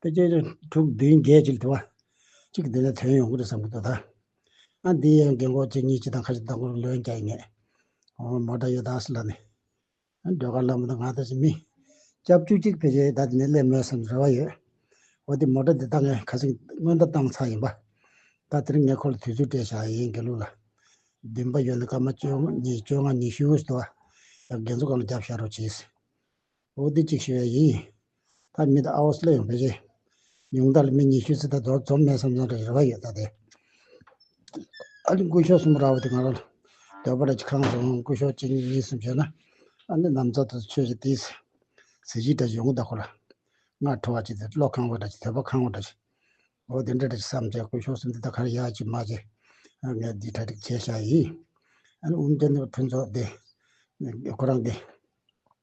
དེ་རྗེས་ཀྱི་དྲུག་བདུན་བརྒྱད་ཅིག་དུ་བ་གཅིག་གི་དུས་ནས་དོན་ཡོང་གི་རེད་བསམ་གྱི་འདུག་ད་ཨ་འདི་ཡང་རྒན་འཁོགས་ཁྱེད་གཉིས་སྤྱི་དང་ཁ་ཆེ་ལྟ་བུར་ལོས་མཇལ་ཡིན་ངེས། འོ་མོ་ད་ཡོད་ད་སི་ལ་ནི། སྒྲོལ་དཀར་ལྷ་མོ་དང་ང་ད་ཅི་མི། སྐྱབས་བཅུ་གཅིག་ཕལ་ཆེར་ད་དེ་ནས་སླེབས་མོད་བསམ་རེ་བ་ཡོད། འོ་དེ་མོ་ད་དེ་ད་ངས་ཁ་སེང་སྔོན་ད་བཏང་ཚར་ཡིན་པ། ད་དེར་ངས་ཁོ་ལ་དུས་ཚོད་སྤྲད་བཞག་ཡིན་དགེ་ལུགས་ལ། བདུན་པ་ཡོད་ནི་སྐར་མ་བཅོ་གཉིས་བཅོ་ལྔ་ཉི་ཤུ་ཡོད་སི་དུ་བ། ཡང་རྒན་ཚོ་གང་ལ་རྒྱབ་བཞག་རོགས་བྱེད་སི། ཨོ་དི་ཅིག་ཞེས་པ་ཡིན། ད་མི་དང་ཨའོ་སི་ལ་ཡང་བོད་ཆས། ཉུང་མཐའ་ལ་མི་ཉི་ཤུ་ཚུད་ད་དོར་འཛོམས་མེད་བསམ་སོང་རེད་རེ་བ་ཡོད་ད་དེ། ཨ་ནི་སྐུ་ཞོགས་གསུམ་ར་བ་དེ་ང་རང། འདོད་པ་ར་ཅིག་ཁང་སོང་སྐུ་ཞོགས་གཅིག་གཉིས་གསུམ་བྱས་ན། ཨ་ནི་ནམ་ཚོད་དུ་ཆོས་ཅིག་དེའི། གཟི་བརྗིད་ར་ཅིག་ཡོང་གི་ད་ཁོ་ར། སྔར་ཁྲོ་བ་ཅིག་དེ་བློ་ཁང་བ་ར་ཅིག་དད་པ་ཁང་བ་ར་ཅིག། ཨོ་དེ་འདྲ་ར་ཅིག་བསམ་བྱས་སྐུ་ཞོགས་གསུམ་དེ་ད་ག་ར་ཡ་ཅིག་མ་བྱས། ཨ་ངས་འདི་གྲ་ཅིག་བྱས་ཤག་ཡིན། ཨ་ནི་འུ་མ་ཅག་འདི་བ་ཕུན་ཚོགས་དེ། ཁོ་རང་དེ།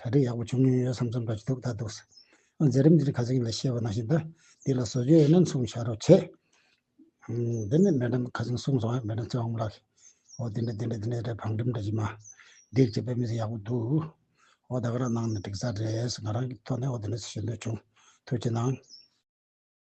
གྲ་སྒྲིག་ཡག་པོ་བྱུང་མྱོང་ཡོད་བསམ་བསམ་པ་ཞིག་འདུག་ད་དུག་ས་འཛིན་རིམ་འདིར་ག་ཚོད་ཡིན་ལ་ཤེས་པ་ནང་བཞིན་དུ་འདི་ལ་བཟོ་བཅོས་ཡོད་ན་མཚུངས་བྱ་རོགས་བྱས། འདི་ནི་མེ་འགྲམ་ཁ་ཟུམ་གསུམ་སོང་ཡང་མེ་འགྲམ་ཚོའང་མ་ལགས། འོ་འདི་འདྲ་འདི་འདྲ་འདི་འདྲ་རེད་བང་འགྲིམ་འདྲ་ཞིག་མ། འགྲིག་བྱས་པས་མི་ཚེ་ཡག་པོ་འདུག། འོ་ད་ག་རང་གནང་ནས་འགྲིག་ས་རེད་ཟེར་ང་རང་གི་ཐོག་ནས་འོ་འདི་འདྲ་ཞིག་ཞུ་འདོད་བྱུང། ཐུགས་ཆེ་གནང།